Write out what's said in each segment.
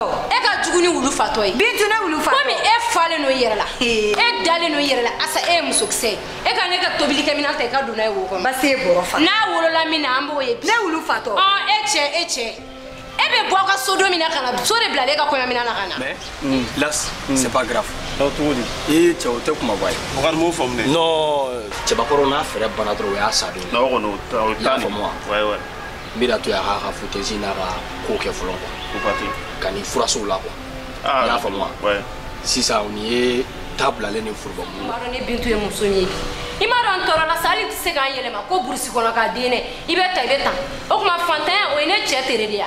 e ka jugu ni wulu fatɔ ye bintu ne wulu fatɔ komi e falen don yɛrɛ la e dalen don yɛrɛ la asa e ye musokisɛ ye e ka ne ka tobilikɛminɛn ta i ka don n'a ye wo kɔnɔ basi e bɔrɔ fa n'a wolola min na an b'o ye ne wulu fatɔ ɔ e cɛ e cɛ e bɛ bɔ aw ka so don min na ka na so de bilalen e ka kɔɲɔminɛn na ka na mais mm. là mm. c'est pas grave donc cogo di i cɛ o tɛ kumaba ye o kɔni m'o faamu dɛ non cɛbakɔrɔ n'a fɛɛrɛ banna dɔrɔn o y'a sa don ye. non o kɔni o t'a o t'a nin. y'a faamu wa. n bɛna to yan k'a ka futesi n'a ka ko kɛ fɔlɔ quoi ka ni furasow la quoi ah, i y'a faamu wa sisan nin ye ta bilalen ni forobabu ye. i m'a dɔn ne Bintu ye muso min ye bi i m'a dɔn n tɔɔrɔla sa hali n tɛ se ka n yɛlɛma ko burusi kɔnɔ k'a den dɛ i bɛ ta i bɛ tan o tuma fantanya o ye ne cɛ tere de ye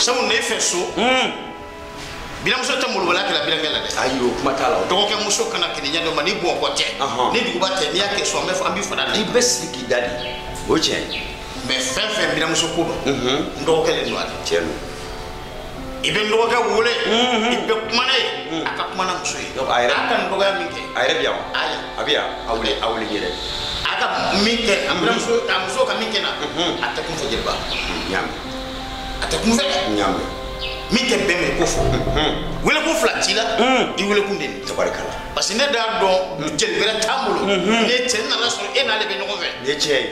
sabu ne fɛ so biranmuso tɛ molobaliya kɛla birankɛ la dɛ ayi o kuma t'a la o dɔgɔkɛ muso kana kɛnɛ ɲɛ dɔ ma ni Bamakɔ tɛ Ɔhɔn. ni duguba tɛ n'i y'a kɛ so an bɛ fɔ an b'i fana i bɛ sigi k'i da de o tiɲɛ ye mais fɛn fɛn biranmuso ko don n dɔgɔkɛ le don a la tiɲɛ don i bɛ n dɔgɔkɛ wele i bɛ kuma n'a ye a ka kuma n'a muso ye a yɛrɛ a ka nin dɔgɔya min kɛ a yɛrɛ bɛ yan wa ayi a bɛ yan a wuli a wuli yɛrɛ a ka min kɛ a bɛna muso a muso ka min kɛ n na a tɛ kun fɛ jeliba naamu a tɛ kun fɛ naamu min tɛ bɛn min ko fɔ welekun fila t'i la i welekun de nin tabarikala parce que ne d'a dɔn jeli wɛrɛ t'an bolo ne cɛ nana sɔrɔ e n'ale bɛ ɲɔgɔn fɛ nin ye tiɲɛ ye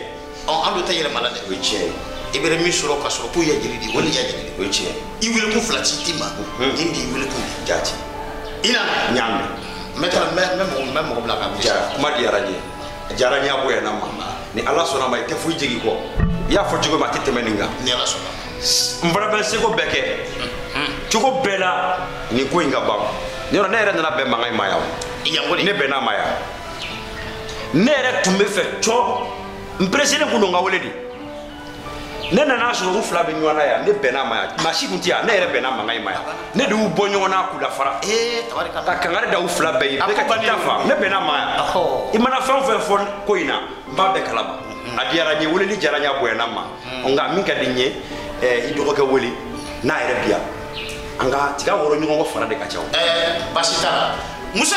An tɛ yɛlɛma la dɛ o tiɲɛ i bɛ min sɔrɔ ka sɔrɔ k'o ye jeli di o de ye jeli o tiɲɛ i welekun fila t'i ma nin de y'i welekun jaati i nana naamu n bɛ taa n bɛ mɔgɔ bila ka jara kuma diyara n ye a diyara n ye a bonyana n ma ni ala sɔnna ma i tɛ foyi jigin kɔ i y'a fɔ cogo min a tɛ tɛmɛ nin kan ni ala sɔnna n fana bɛ seko bɛɛ kɛ cogo bɛɛ la nin ko in ka ban yɔrɔ ne yɛrɛ nana bɛn mankan in ma yan ne bɛnn'a ma yan ne yɛrɛ tun b'a fɛ cɔ n pereselen kun don ka wele de ne nana sɔrɔ u fila bɛ ɲɔgɔn na yan ne bɛnna ma yan maa si kun tɛ yan ne yɛrɛ bɛnna mankan in ma yan ne de y'u bɔ ɲɔgɔn na k'u lafara ka kangari da u fila bɛɛ ye bɛɛ ka taa fa ne bɛnna ma yan i mana fɛn o fɛn fɔ ko in na n b'a bɛɛ kalama a diyara n ye weleli diyara n ye a bonyana n ma nka min ka di n ye i dɔgɔkɛ wele n'a yɛrɛ bi yan an ka tiga wɔrɔ ɲɔgɔn kɔ fara de ka ca o basi t'a la musa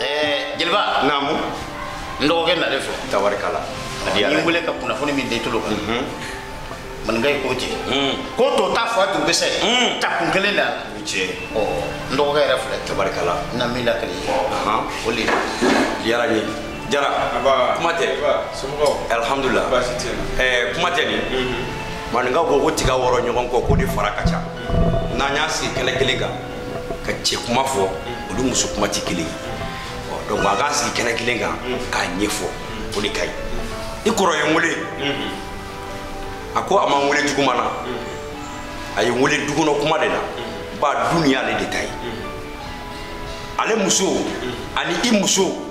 Eh, jeliba naamu n dɔgɔkɛ nalen filɛ tabarikala n y'i wele ka kunnafoni min d'i tolo kan mhm. maninka ye ko cɛ mhm. ko to ta fa tun bɛsɛ mhm. ta kun kelen da cɛ n dɔgɔkɛ yɛrɛ filɛ tabarikala n na min lakale o le diyara n ye jara kuma tɛ alihamudulila eh, kuma tɛ nin maninkaw ko ko tiga wɔrɔ ɲɔgɔn kɔ k'o de fara ka ca n'an y'a sigi kɛnɛ kelen kan ka cɛ kuma fɔ o ni muso kuma tɛ kelen ye donc a k'a sigi kɛnɛ kelen kan k'a ɲɛfɔ o de ka ɲi i kɔrɔ ye n wele a ko a ma n wele juguman na a ye n wele dukɔnɔ kuma de la ba du nin y'ale de ta ye ale muso ani i muso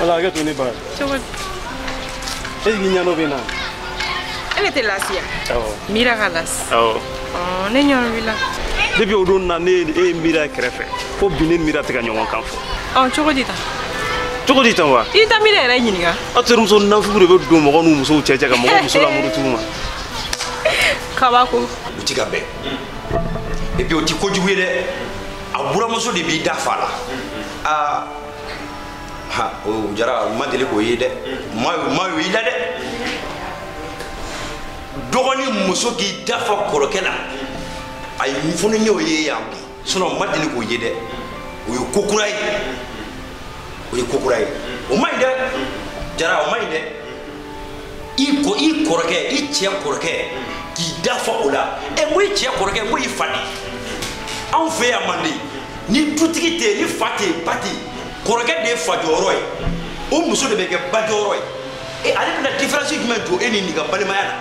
Ala k'a to ne ba. Cogo di? E k'i ɲɛnɔ bɛ na. E de tɛ lafiya. Awɔ. Mira ka lasi. Awɔ. Ɔɔ ne ɲɔn wila. Depuis o don na ne ye e ye Mira kɛrɛfɛ fo bi ne ni Mira tɛ ka ɲɔgɔn kan fɔ. Ɔɔ cogo di tan? Cogo di tan wa? I tɛ Mira yɛrɛ ɲininka. aw terimuso nafugu de bɛ don mɔgɔ n'u musow cɛ ka mɔgɔ muso lamuruti u ma kabako u ti ka bɛn et puis o ti kojugu ye dɛ a buramuso de b'i da fa la aa ha o jara n ma deli k'o ye dɛ ma yo i la dɛ dɔgɔnin muso k'i da fa kɔrɔkɛ la ayi n fana y'o ye yan bi sinon n ma deli k'o ye dɛ o ye ko kura ye o ye ko kura ye o man ɲi dɛ jara o man ɲi dɛ i kɔrɔkɛ i cɛ kɔrɔkɛ k'i da fa o la ɛ n ko i cɛ kɔrɔkɛ n ko i fa de anw fɛ yan mande ni dutigi tɛ yen ni fa tɛ yen ba tɛ yen kɔrɔkɛ de ye fa jɔyɔrɔ ye o muso de bɛ kɛ ba jɔyɔrɔ ye e ale bɛna différence jumɛn don e ni nin ka balimaya la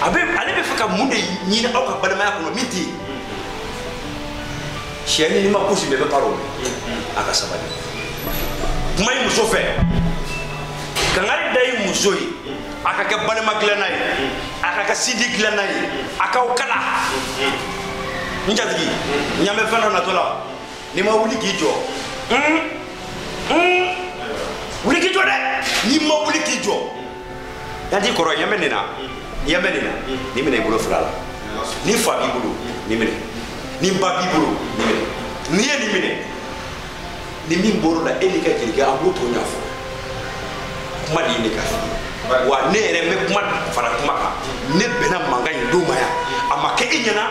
ale bɛ fɛ ka mun de ɲini aw ka balimaya kɔnɔ min tɛ yen sɛ ni ma kusi bɛɛ bɛ baara o a ka sabali kuma i muso fɛ kangari da i muso ye a ka kɛ balima dilanna ye a ka kɛ sinji dilanna ye a k'aw kala n jatigi ɲɛ bɛ fɛn dɔ natɔ la n'i ma wuli k'i jɔ wuli k'i jɔ dɛ n'i ma wuli k'i jɔ yan t'i kɔrɔ i ɲɛ bɛ nin na i ɲɛ bɛ nin na nin minɛ i bolo fila la ni fa b'i bolo nin minɛ ni ba b'i bolo nin minɛ n'i ye nin minɛ ni min bɔr'o la e n'i ka jelikɛ an b'o tɔ ɲɛfɔ kuma de ye ne ka f'i ye wa ne yɛrɛ n bɛ kuma fara kuma kan ne bɛnna mankan in don ma yan a ma kɛ i ɲɛna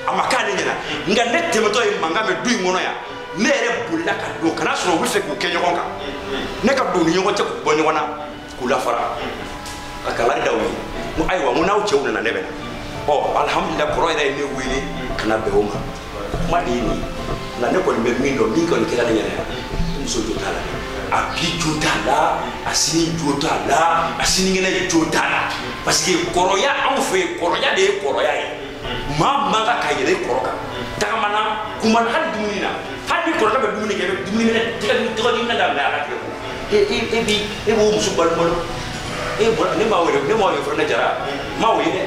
a ma k'ale ɲɛna nka ne tɛmɛtɔ ye mankan mɛn du in kɔnɔ yan ne yɛrɛ bolila ka don ka n'a sɔrɔ u bɛ fɛ k'u kɛ ɲɔgɔn kan ne ka don u ni ɲɔgɔn cɛ k'u bɔ ɲɔgɔn na k'u lafara ka kangari da u ye n ko ayiwa n ko n'aw cɛw nana ne bɛ na ɔ alihamudulila kɔrɔ yɛrɛ ye ne wele ka na bɛn o ma kuma de ye nin ye nka ne kɔni bɛ min dɔn min kɔni kɛra ne ɲɛna yan i muso jo t'a la a bi jo t'a la a sini jo t'a la a sinikɛnɛ jo t'a la parce que kɔrɔya anw fɛ yen kɔrɔya de ye kɔrɔya ye maa man kan ka yɛlɛ i kɔrɔ kan tagama na kuma na hali dumuni na hali ni kɔrɔkɛ bɛ dumuni kɛ i bɛ dumuni minɛ tɛgɛdimi minɛ daminɛ a ka tigɛ ko e bi e b'o muso balibalo e bɔra ne ma wele ne ma wele fɔlɔ ne jara ma wele dɛ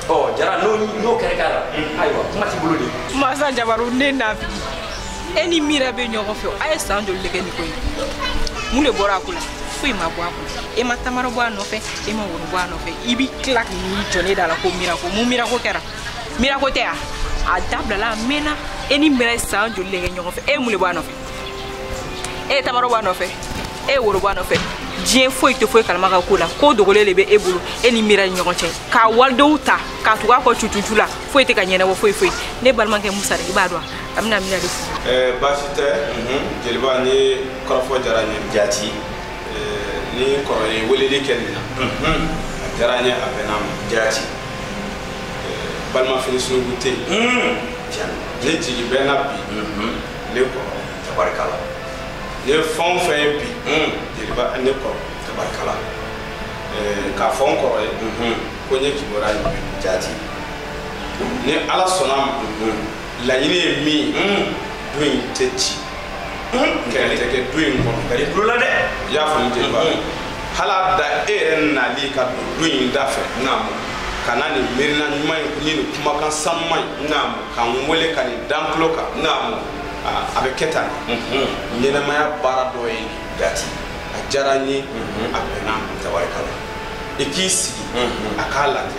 ɔ jara n'o n'o kɛra k'a la ayiwa kuma t'i bolo de masa jabaru ne nafi e ni mira bɛ ɲɔgɔn fɛ a ye san joli de kɛ nin ko in mun de bɔra a ko la foyi ma bɔ a ko e ma tamaro bɔ a nɔfɛ e ma woro bɔ a nɔfɛ i bi tila k'i jɔ ne da la ko mirako mun mirako kɛra mirako tɛ a a dabilala a mɛnna e ni mira ye san joli le kɛ ɲɔgɔn fɛ e mun le bɔ a nɔfɛ e ye tamaro bɔ a nɔfɛ e ye woro bɔ a nɔfɛ diɲɛ foyi tɛ foyi kalama ka ko la ko dogolen de bɛ e bolo e ni mira ni ɲɔgɔn cɛ k'a walidenw ta k'a tugu a kɔ cucucu la foyi tɛ ka ɲɛnabɔ foyi foyi ne balimakɛ musa de i b'a dɔn a bɛna mira de fo baasi tɛ jeliba nin kɔrɔfɔ diyara n ye jaati ne kɔrɔ ye weleli kɛ nin na a diyara n ye a bɛnna ma jaati balima fili sunugu tɛ yen ne jigi bɛ na bi ne kɔrɔ tabarikala ne fɛn o fɛn ye bi jeliba ne kɔrɔ tabarikala k'a fɔ n kɔrɔ ye ko n ye kibaruya ye jaati ni ala sɔnna a ma laɲini ye min ye du in tɛ ci kɛlɛ tɛ kɛ du in kɔnɔ ka i tulo la dɛ i y'a faamu jeliba hali a da e yɛrɛ nali ka don du in da fɛ naamu ka na nin miirina ɲuman in ni nin kumakan sanuman in naamu ka n wele ka nin da n tulo kan naamu a bɛ kɛ tan ɲɛnɛmaya baara dɔ ye dɛ jaati a diyara n ye a bɛnna tabarikala i k'i sigi a k'a lajɛ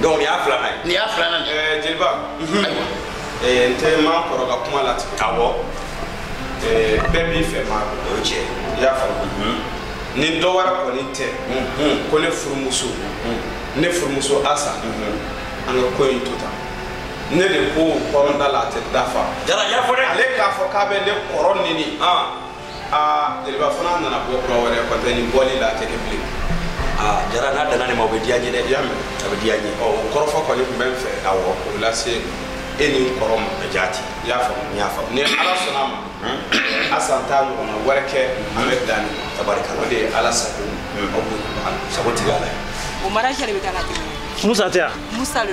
donc nin y'a filanan ye nin y'a filanan ye eh, jeliba mhm. ayiwa eh, n tɛ maakɔrɔ ka kuma latigɛ awɔ eh, bɛɛ b'i fɛ ma o cɛ i y'a faamu mhm. ni dɔ wɛrɛ kɔni tɛ mhm. ko ne furumuso ne furumuso asa an ka ko in to tan ne de ko kɔrɔnda la a tɛ dafa jara y'a fɔ dɛ ale k'a fɔ k'a bɛ ne kɔrɔ nɛni aa jeliba fana nana bɔ kura wɛrɛ kɔtɛ ni bɔli la a tɛ kɛ bilen aa jara n'a danna nin ma o bɛ diya n ye dɛ i y'a mɛn a bɛ diya n ye ɔ o kɔrɔfɔ kɔni tun bɛ n fɛ awɔ k'o lase e ni n kɔrɔ ma a jaati i y'a faamu n y'a faamu ni ala sɔnna a ma asa t'a ɲɔgɔnna wɛrɛ kɛ an bɛ dan nin tabarikala o de ye ala sago aw b'o ɲɔgɔn sagotigi ala ye o mara jɛre bɛ taa ka tɛmɛ musa tɛ yan musa le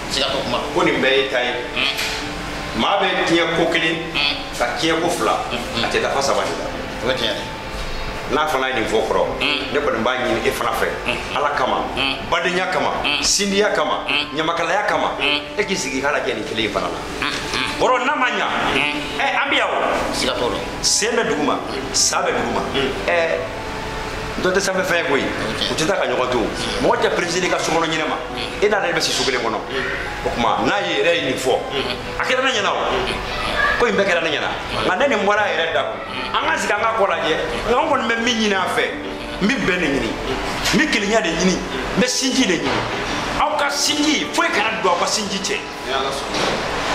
siga t'o kuma kɔni bɛɛ y'i ta ye maa bɛ tiɲɛ ko kelen ka tiɲɛ ko fila a tɛ dafa saba de la o ye tiɲɛ ye n'a fana ye nin fɔ kɔrɔ ne kɔni b'a ɲini e fana fɛ ala kama badenya kama sindiya kama ɲamakalaya kama e k'i sigi k'a lajɛ nin kelen in fana la kɔrɔ n'a ma ɲa ɛ an bɛ yan o siga t'o la sen bɛ duguma sa bɛ duguma ɛ dɔ tɛ sanfɛ fɛn koyi u tɛ taa ka ɲɔgɔn to mɔgɔ tɛ perese i ka sokɔnɔ ɲinɛ ma e n'ale de bɛ si so kelen kɔnɔ o tuma n'a yɛrɛ ye nin fɔ a kɛra ne ɲɛna o ko in bɛɛ kɛra ne ɲɛna nka ni nin bɔra a yɛrɛ da an ka sigi an ka ko lajɛ nka an kɔni bɛ min ɲini a fɛ n bɛ bɛn de ɲini n bɛ kelenya de ɲini n bɛ sinji de ɲini aw ka sinji foyi kana don aw ka sinji cɛ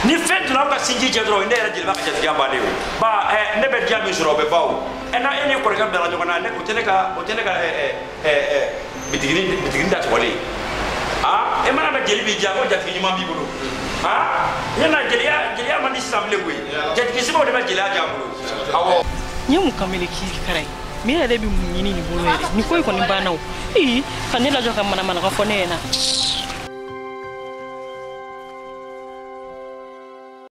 ni fɛn donna aw ka sinji cɛ dɔrɔn ne yɛrɛ jeliba ka jatigiya bannen o ba ne bɛ diya min sɔrɔ o bɛ ban o ɛ ni e ni kɔrɔkɛ bilala ɲɔgɔn na ne o tɛ ne ka o tɛ ne ka ɛ ɛ ɛ ɛ bitigini bitigini datugulen ye aa e mana mɛn jeli b'i diya ko jatigi ɲuman b'i bolo aa ne na jeliya jeliya man di sisan bilen koyi jatigi sɛbɛw de bɛ jeliya diya bolo awɔ. n ye mun kamalen k'i kara ye min yɛrɛ bɛ mun ɲini nin bolo yɛrɛ nin ko in kɔni banna o ee ka ne lajɔ ka manamanaka fɔ ne ɲɛna.